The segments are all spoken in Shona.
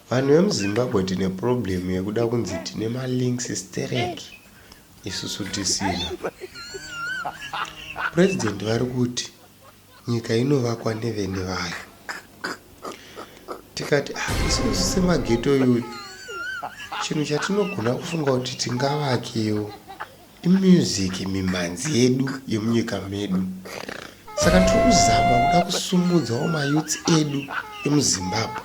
Vanhu vemuZimbabwe tine problem yekuda kunzi tine malinks sterek isusu tisina. President vari kuti nyika inovakwa nevene vayo. Tikati hatisi ah, kusise mageto iyoyo chinhu chatinogona kufunga kuti tingavakewo. Imusic mimhanzi yedu yemunyika medu saka tiri kuzama kuda kusumudzawo mayouths edu emuzimbabwe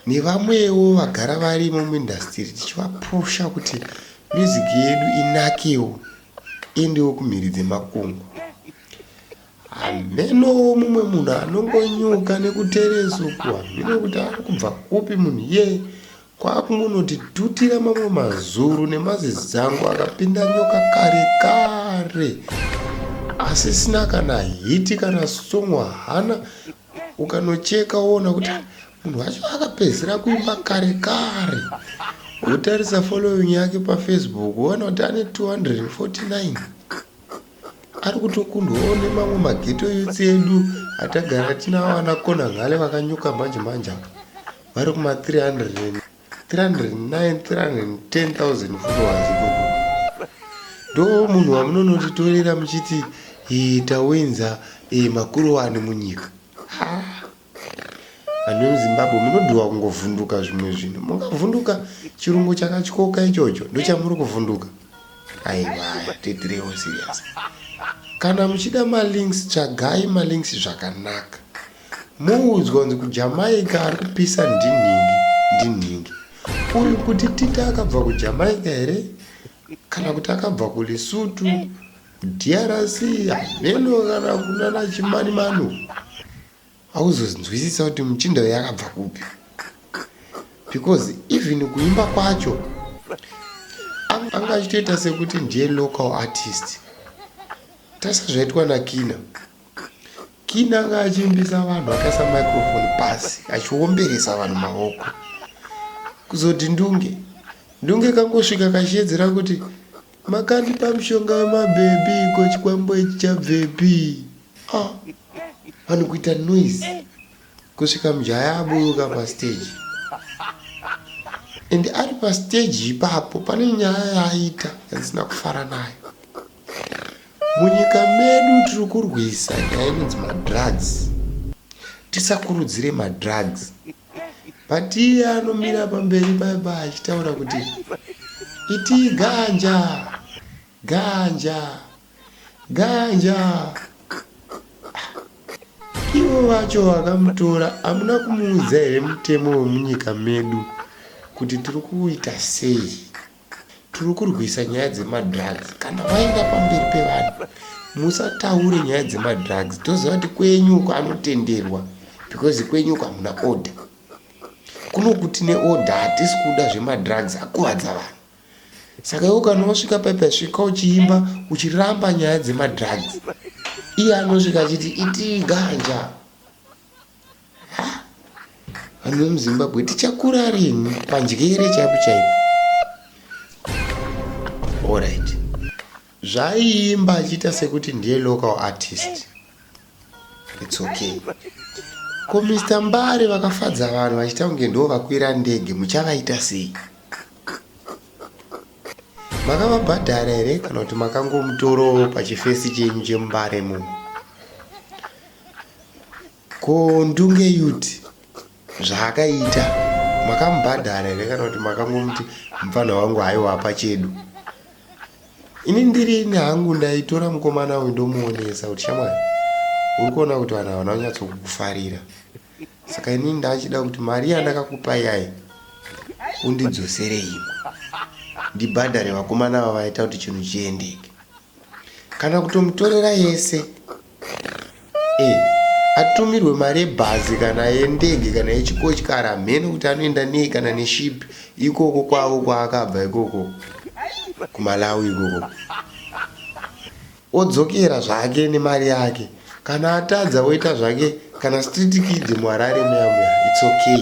nevamwewo vagara varimo muindastiri tichivapusha kuti music yedu inakewo endewo kumhiri dzemakungu hamenowo mumwe munhu anongonyuka nekutereso kuhamino kuti ari kubva kupi munhu iyeye Kwakungonondidutira mamwe mazuru nemazizango akapinda nyoka kare kare asisina kana hiti kana sungwa hana ukanocheka woona kuti munhu wacho akapedzisira kuimba kare kare wotarisa following yake pafacebook woona kuti ane 249 ari kutokundwawo nemamwe mageto youth edu atagara tinawo ana kona ngale vakanyuka manje manje apa vari kuma 300 309 310000 followers ikoko ndo munhu wamunonotitorera muchiti tawinza makurowani munyika Vanhu vemuZimbabwe munodiwa kungovhunduka zvimwe zvinhu. Mungavhunduka chirungu chakatyoka ichocho ndochamuri kuvhunduka. Aiwa, titirewo serious. Kana muchida malinks tsvagai malinks zvakanaka. Muudzwa kunzi kuJamaica ari kupisa ndinhingi ndinhingi. Uri kuti Tita akabva kuJamaica here? Kana kuti akabva kuLesotho? DRC hameno kana kunana chimani mano hauzonzwisisa kuti muchinda uyu akabva kupi because even kuimba kwacho anga achitoita sekuti ndiye local artist tasa zvaitwa nakina kina anga achiimbisa vanhu akaisa microfone pasi achiomberesa vanhu maoko kuzoti ndunge ndunge kangosvika kachiedzera kuti Makandipa mushonga wemabhebhi ko chikwambo ichi chabvepi? Ah, vanhu kuita noise kusvika mujaya aburuka pastage and ari pastage ipapo pane nyaya yaaita yandisina kufara nayo. Munyika medu tiri kurwisa nyaya inonzi madrugs, tisakurudzire madrugs. but iye anomira pamberi paipa achitaura kuti iti ganja ganja ganja ivo vacho vakamutora hamuna kumuudza here mutemo wemunyika medu kuti tiri kuita sei tiri kurwisa nyaya dzemadrugs kana waenda pamberi pevanhu musataure nyaya dzemadrugs toziva kuti kwenyu uko anotenderwa because kwenyu uko hamuna order kuno kuti neorder hatisi kuda zvemadrugs akuvadza vanhu saka iwo kana wasvika paipa svika uchiimba uchiramba nyaya dzemadrugs iye anosvika achiti itii ganja Vanhu vemuZimbabwe tichakura rini pandyere chaipo chaipo. Alright. Zvaiimba achiita sekuti ndiye local artist. It's okay. Ko Mr Mbare vakafadza vanhu vachita kunge ndiwo vakwira ndege muchavaita sei? makavabhadhara here kana kuti makangomutorawo pachifesi chenyu chemumbare muno ko ndunge yut zvaakaita makamubhadhara here kana kuti makangomuti mupfanha wangu haiwapa chedu ini ndiri ini hangu ndaitora mukomana uyu ndomuonesa kuti shamwari uri kuona kuti vanhu havana kunyatsokukufarira saka ini ndachida kuti mari yandakakupai yayi undidzosere imwe ndibhadhare vakomana vavaita kuti chinhu chiendeke kana kutomutorera yese e atumirwe mari yebhazi kana yendege kana yechikochikara hamhene kuti anoenda nei kana neshipi ikoko kwavo kwaakabva ikoko kumalawi ikoko Odzokera zvake nemari yake kana atadza oita zvake kana street kid muharare muya muya it's okay.